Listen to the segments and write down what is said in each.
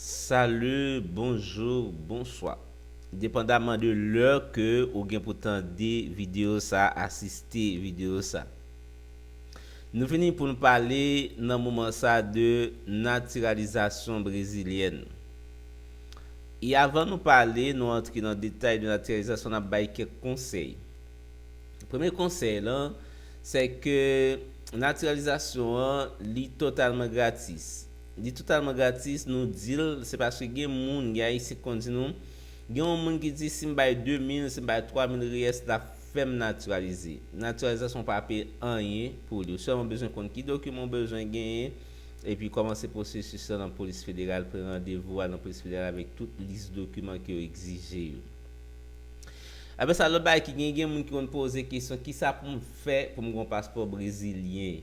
Salut, bonjour, bonsoir. Depandaman de lè ke ou gen pou tande video sa, asiste video sa. Nou vini pou nou pale nan moman sa de natiralizasyon brezilyèn. E avan nou pale, nou antre nan detay de natiralizasyon, nap bay kèk konsèy. Premye konsèy lan, sè ke natiralizasyon an li totalman gratis. Li totalman gratis, nou di l, se paske gen moun, gen Ayisyen ki konn di nou, gen yon moun ki di si m bay 2 mil, si m bay 3 mil riyès l ap fè m natiralize. Natiralizasyon w pa peye anyen pou li. Ou sèlman bezwen konn ki dokiman ou bezwen genyen, epi kòmanse pwosesis lan nan polis federal, pran randevou, al nan polis federal avèk tout lis dokiman ke yo egzije yo. Apre sa, lòt bagay ki gen, gen moun ki konn poze kesyon, kisa pou m fè pou m gen yon paspò brezilyen?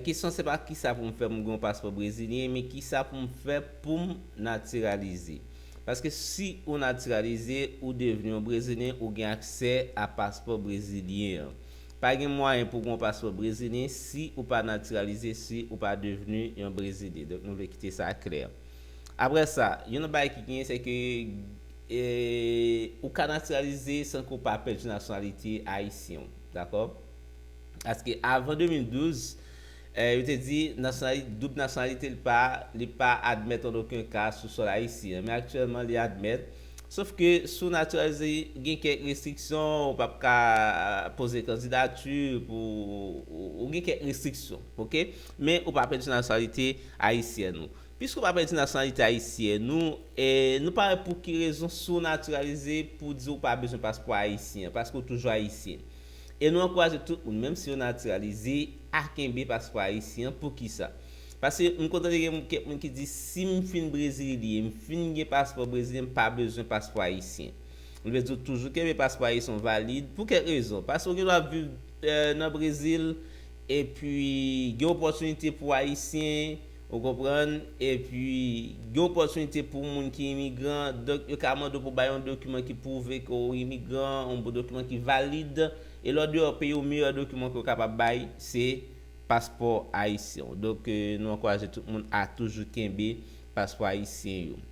Kesyon an se pa kisa pou m fè pou m gen yon paspò brezilyen, men kisa pou m fè pou m natiralize? Paske si ou natiralize, ou devni yon brezilyen, ou gen aksè a paspò brezilyen an. Pa gen mwayen pou gen yon paspò brezilyen si ou pa natiralize, si ou pa devni yon brezilyen. Donk nou vle kite sa klè. Apre sa, yon lòt bagay ki gen, se ke. E ou ka natiralize san ke w pa pèdi nasyonalite ayisyen w. Dakò? Paske avan 2012, yo te di nasyonalite, doub nasyonalite li pa, li pa admèt an oken ka sou sòl ayisyen. Men aktyèlman li admèt. Sof ke si w natiralize, gen kèk restriksyon, ou p ap ka poze kandidati pou, ou gen kèk restriksyon. Ok? Men ou pa pèdi nasyonalite ayisyèn ou. Piske w pa pèdi nasyonalite ayisyèn ou, nou pa wè pou ki rezon si w natiralize pou di w pa bezwen paspò ayisyen an, paske w toujou ayisyen. E nou ankouraje tout moun, menm si yo natiralize, a kenbe paspò ayisyen an. Poukisa? Paske m konn tande gen kèk moun ki di si m fin brezilyen, m fin gen paspò brezilyen, m pa bezwen paspò ayisyen. Li vle di w toujou kenbe paspò ayisyen w valid pou kèk rezon. Paske w gen dwa viv nan Brezil, epi gen opòtinite pou ayisyen. Ou konprann? Epi, gen opòtinite pou moun ki imigran, donk yo ka mande w pou w bay yon dokiman ki pwouve ke w imigran, yon bon dokiman ki valid. E lè w deyò peyi w, meyè dokiman ke w kapab bay, se paspò ayisyen w. Donk, nou ankouraje tout moun a toujou kenbe paspò ayisyen yo.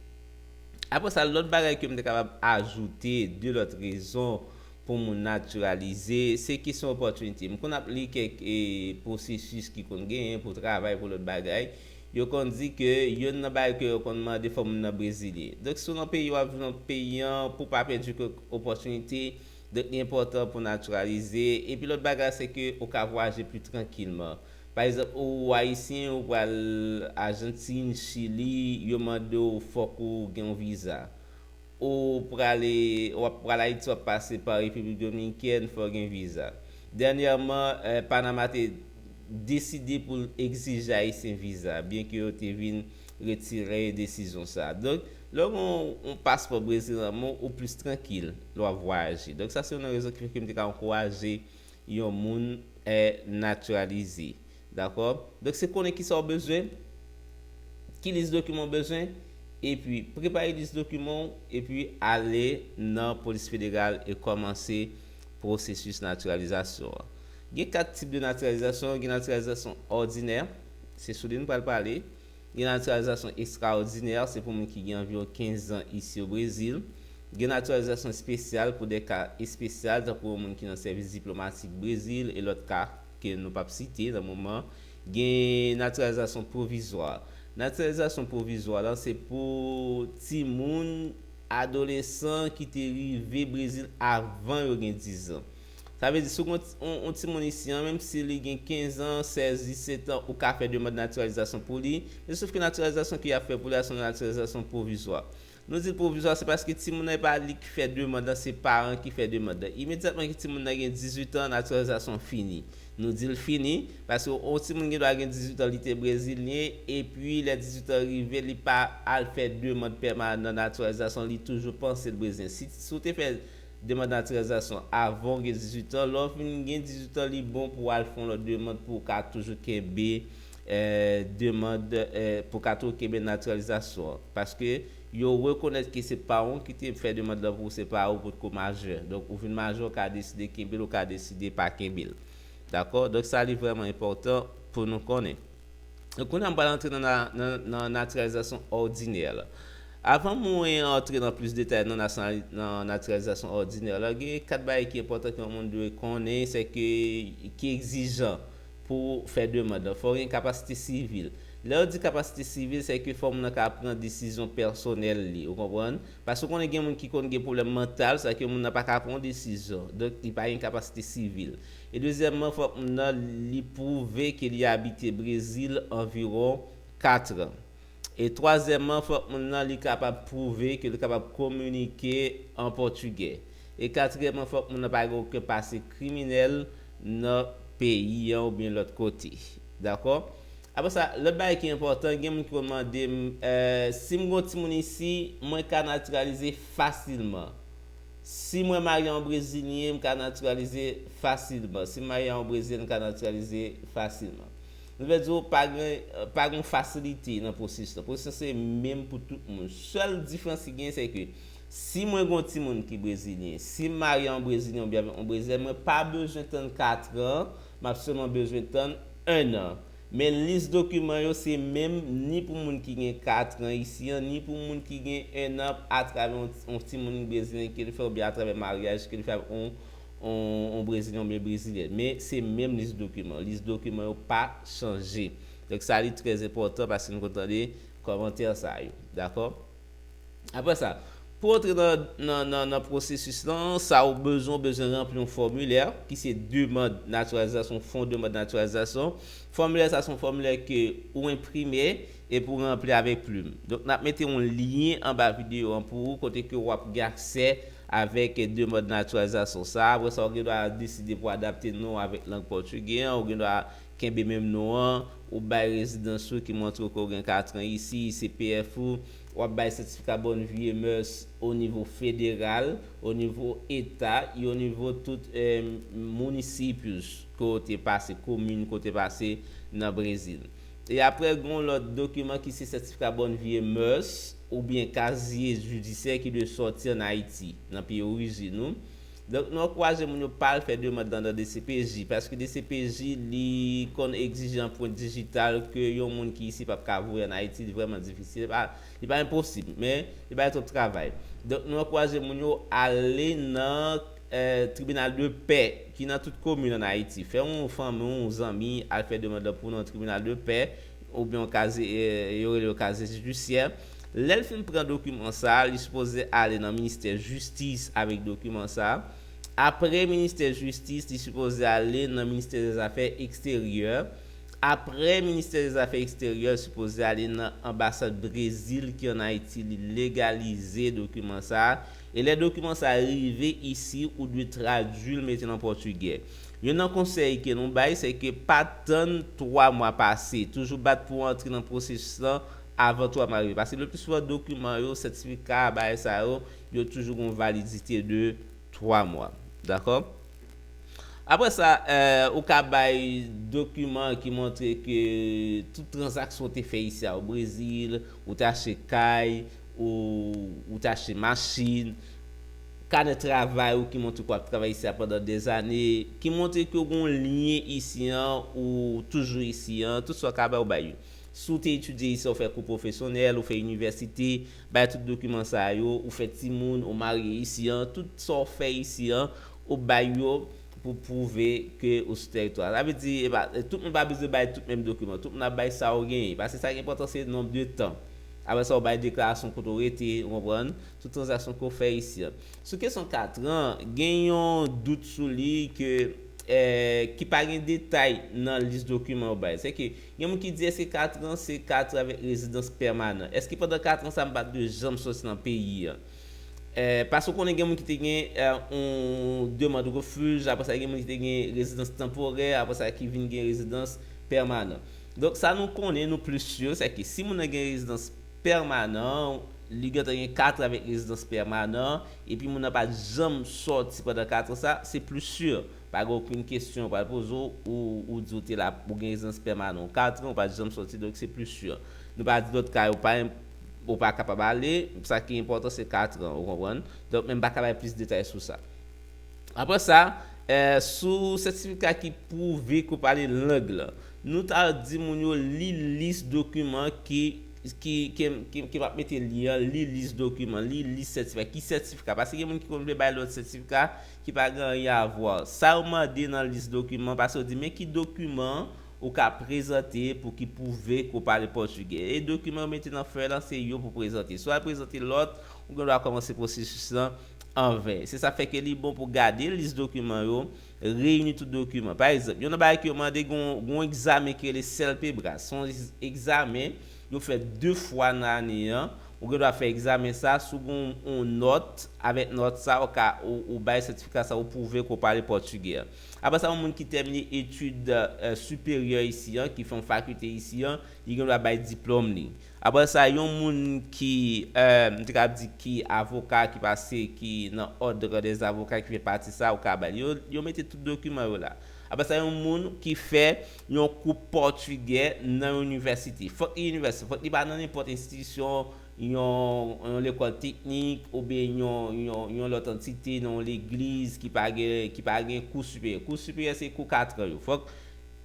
Apre sa, lòt bagay ke m te kapab ajoute, de lòt rezon pou moun naturalize, se kesyon opportunity. M konn ap li kèk processus ki konn genyen pou travay, pou lòt bagay, yo konn di ke yonn nan bagay ke yo konn mande fò moun nan brezilyen. Donk si w nan peyi w ap viv nan peyi an, pou w pa pèdi kèk opportunity, donk li enpòtan pou w naturalize. Epi lòt bagay se ke ou ka vwayaje pli trankilman. Pa egzanp ou Ayisyen ou pral Argentine, Chili, yo mande w fòk ou gen yon visa. Ou prale wap pral Ayiti wap pase pa Repiblik Dominikèn fòw gen viza. Dènyèman Panama te deside pou l egzije Ayisyen viza byen ke yo te vin retire desizyon sa. Donk lè w gen yon paspò brezilyèn lan men w ou plis trankil lè wap vwayaje. Donk sa se yon nan rezon ki fè ke m te ka ankouraje yon moun eh naturalize dakò donk se konnen kisa ou bezwen ki lis dokiman ou bezwen epi prepare lis dokiman ou epi ale nan polis federal e kòmanse pwosesis naturalizasyon an gen 4 tip de naturalizasyon gen naturalizasyon òdinè se sou li nou pral pale. Gen natiralizasyon estrawòdinè, se pou moun ki gen anviwon 15 zan isi o Brezil. Gen natiralizasyon espesyal pou de ka espesyal, tankou yon moun ki nan sèvis diplomatik Brezil e lòt ka ke nou pap site nan moman. Gen natiralizasyon pwovizwa. Natiralizasyon pwovizwa lan se pou timoun, adolesan ki te rive Brezil avan yo gen 10 zan. Sa vle di si w gen yon timoun isi an, menm si li gen 15 an, 16, 17 an, ou ka fè demand natiralizasyon pou li, men sof ke natiralizasyon ke y ap fè pou li a se yon natiralizasyon pwovizwa. Nou di l pwovizwa se paske timoun nan e pa li ki fè demand lan, se paran ki fè demand lan. Imedyatman ke timoun nan gen 18 an, natiralizasyon an fini. Nou di l fini, paske yon timoun gen dwa gen 18 an li te brezilyen, epi lè 18 an rive li pa al fè demand pèmanan natiralizasyon, li toujou panse l brezilyen. Si w te fè. Demand Natiralizasyon, Avan ou gen 18 an, lè ou fin gen 18 an li bon pou al fè yon lòt demand pou ou ka toujou kenbe demand pou ou ka toujou kenbe natiralizasyon an. Paske yo rekonèt ke se pa ou ki te fè demand lan pou ou, se pa ou potko majè. Donk ou vin majè ou ka deside kenbe l ou ka deside pa kenbe l. Dakò? Donk sa li vrèman enpòtan pou nou konnen. Kounye a m pral antre nan natiralizasyon òdinè la. Avan mwen antre nan plis detay nan natiralizasyon òdinè la, gen 4 bagay ki enpòtan ke yon moun dwe konnen, se ke ki egzijan pou fè demand la. Fò gen kapasite sivil. Lè yo di kapasite sivil, se ke fò moun nan ka pran desizyon pèsonèl li, ou konprann? Paske ou konnen gen moun ki konn gen pwoblèm mantal, sa ke moun nan pa ka pran yon desizyon. Donk li pa gen kapasite sivil. E dezyèmman fòk moun nan li pwouve ke li abite Brezil anviwon 4 an. E twazyèmman fòk moun nan li kapab pwouve ke li kapab kominike an pòtigè. E katriyèmman fòk moun nan pa gen oken pase kriminèl nan peyi an oubyen lòt kote. Dakò? Apre sa, lòt bagay ki enpòtan, gen moun ki konn mande m, eh, si m gen yon timoun isi, mwen ka natiralize fasilman? Si mwen marye yon Brezilyen, m ka natiralize fasilman. Si m marye a yon Brezilyèn, m ka natiralize fasilman. Nou vle di w pa gen, pa gen yon fasilite nan pwosesis lan. Pwosesis lan se menm pou tout moun. Sèl diferans ki genyen se ke si mwen gen yon timoun ki Brezilyen, si m marye a yon Brezilyen oubyen avèk yon Brezilyèn, mwen pa bezwen tann katran, m ap sèlman bezwen tann ennan. Men lis dokiman yo se menm ni pou moun ki gen 4 tran isi an, ni pou moun ki gen 1 an atravè yon yon timoun brezilyen ke l fè oubyen atravè maryaj ke l fè avèk yon yon yon brezilyen oubyen brezilyèn. Men se menm lis dokiman. Lis dokiman yo pa chanje. Donk sa li trè enpòtan paske n konn tande kòmantè sa yo. Dakò? Apre sa, pou w antre nan pwosesis lan, sa ou bezwen, ou bezwen ranpli yon fòmilè ki se demand natiralizasyon, fon demand natiralizasyon. Fòmilè sa se yon fòmilè ke ou enprime epi ou ranpli avèk plim. Donk n ap mete yon lyen anba videyo an pou ou kote ke ou ap gen aksè avèk demand natiralizasyon sa. Apre sa, ou gen dwa deside pou adapte non ou avèk lang pòtigè an, ou gen dwa Kenbe menm non an, ou bay rezidans ou ki montre ke w gen katran isi, CPF ou, w ap bay sètifika bòn vi e mèurs o nivo federal, o nivo eta e o nivo tout municípios ke w te pase, komin ke w te pase nan Brezil. E apre gen yon lòt dokiman ki se sètifika bòn vi e mèurs oubyen kazye jidisyè ki dwe sòti an Ayiti, nan peyi orijin ou. Donk nan ankouraje moun yo pa al fè demand lan nan dcpj, paske dcpj li konn egzije anprent dijital ke yon moun ki isi pap ka voye an Ayiti, li vrèman difisil, li pa li pa enposib, men li bay twòp travay. Donk nou ankouraje moun yo ale nan tribinal de pè ki nan tout komin an Ayiti, fè yon fanmi ou yon zanmi al fè demand lan pou nou nan tribinal de pè, oubyen yon kaze yo rele yo kaze jidisyè, lè l fin pran dokiman sa a, li sipoze ale nan ministè jistis avèk dokiman sa a, apre ministè jistis li sipoze ale nan ministè dèzafè eksteryè, apre ministè dèzafè eksteryè l sipoze ale nan anbasad Brezil ki an Ayiti li legalize dokiman sa a, e lè dokiman sa a rive isi ou dwe tradui l mete l an pòtigè. Youn nan konsèy ke nou bay se ke pa tann 3 mwa pase, toujou bat pou antre nan pwosesis lan avan 3 mwa rive pase. Le pli souvan dokiman yo, sètifika, bagay sa yo, yo toujou gen yon validite de 3 mwa. Dakò? Apre sa, ou ka bay dokiman ki montre ke tout tranzaksyon ou te fè isi a o Brezil, ou te achte kay, ou te achte machin, kanè travay ou ki montre ke w ap travay isi a pandan dezane, ki montre ke w gen yon lyen isi an, ou toujou isi an, tout sa w ka bay, ou bay yo. Si w te etidye isi a, ou fè kou pwofesyonèl, ou fè inivèsite, bay tout dokiman sa yo, ou fè timoun, ou marye isi an, tout sa w fè isi an, ou bay yo pou pwouve ke ou sou tèritwa a. Sa vle di, epa, tout moun pa bezwen bay tout menm dokiman. Tout moun ap bay sa yo genyen. Paske sa ki enpòtan se nonb de tan. Apre sa, ou bay deklarasyon kote w rete, ou konprann. Tout tranzaksyon ke w fè isi an. Sou kesyon 4 tran an, gen yon dout sou li ke ki pa gen detay nan lis dokiman yo bay. Sèke gen moun ki di eske 4 tran se 4 tran avèk rezidans pèmanan? Eske pandan 4 tran sa m pa dwe janm soti nan peyi an? Paske w konnen gen moun ki te gen yon demand refuj, apre sa gen moun ki te gen rezidans tanporè, apre sa ki vin gen rezidans pèmanan. Donk sa nou konnen, nou plis sur, sèke si moun nan gen rezidans. pèmanan an, li gentan gen katran avèk rezidans pèmanan an, epi moun nan pa t janm sòti pandan katran sa, se plis si, pa gen okenn kesyon yo pral poze w, ou ou di ou te la, ou gen rezidans pèmanan w katran, ou pa t janm sòti, donk se plis si. Nou pa di lòt ka yo pa enp, ou pa kapab ale, sa ki enpòtan se katran, ou konprann? Donk men m pa ka bay plis detay sou sa. Apre sa, sou sètifika ki pwouve ke w pale lang lan. Nou ta di moun yo li lis dokiman ki, ki, ke m ap mete li an, li lis dokiman, li lis sètifika. Ki sètifika? Paske gen moun ki konn vle bay lòt sètifika ki pa gen anyen avwa. Sa yo mande nan lis dokiman, paske yo di men ki dokiman ou ka prezante pou ki pwouve ke w pale pòtigè. E dokiman yo mete nan fèy lan, se yo pou prezante. Si w al prezante lòt, ou gen dwa kòmanse pwosesis lan. an ven. Se sa k fè ke li bon pou gade lis dokiman yo, reyini tout dokiman. Pa egzanp, youn nan bagay ke yo mande gen yon egzamen ki rele CELPEBRAS. Se yon egzamen yo fè 2 fwa nan ane an. Ou gen dwa fè egzamen sa a, si w gen yon nòt, avèk nòt sa a ou ka ou bay sètifika sa a, ou pwouve ke w pale pòtigè. Apre sa yon moun ki tèmine etid siperyè isi an, ki fè yon fakilte isi an, li gen dwa bay diplòm li. Aprè sa yon moun ki m te kab di ki avoka ki pase ki nan òdre dè avoka ki fè pati sa ou ka ba li. Yo mete tout dokiman yo la. Aprè sa yon moun ki fè yon kou pòtigè nan yon inivèsite. Fòk li inivèsite. Fòk li pa nan nenpòt enstitisyon yon yon lekòl teknik oubyen yon yon yon lòt antite nan yon legliz ki pa gen ki pa gen kou siperyè. Kou siperyè se kou katran yo. Fòk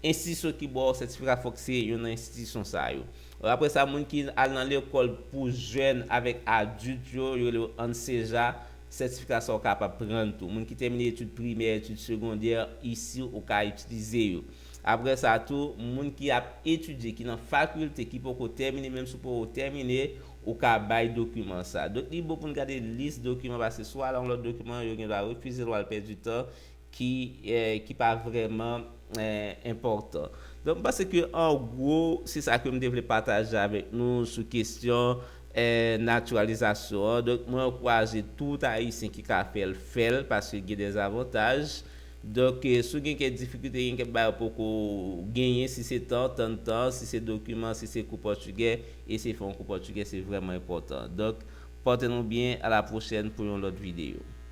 enstitisyon ki ba w sètifika fòk se yon nan enstitisyon sa yo. Apre sa, moun ki al nan lekòl pou jèn avèk adilt yo, yo rele yo ANSEJA, sètifika sa ou kapab pran l tou. Moun ki tèmine etid primè, etid segondè, isi ou ka itilize yo. Apre sa tou, moun ki ap etidye, ki nan fakilte, ki poko tèmine, menm si w poko tèmine, ou ka bay dokiman sa. Donk li bon pou n gade lis dokiman, paske si w al a yon lòt dokiman, yo gendwa refize l, w al pèdi tan. ki ki pa vrèman enpòtan. Donk m panse ke an gwo se sa ke m te vle pataje avèk nou sou kesyon naturalizasyon an. Donk mwen ankwaje tout Ayisyen ki ka fè l fè l paske gen dè zavantaj. Donk si w gen kèk difikilte gen kèk bagay ou poko genyen si se tan tann tan, si se dokiman, si se kou pòtigè eseye fè yon kou pòtigè se vrèman enpòtan. Donk pòte nou byen a la pwochèn pou yon lòt videyo.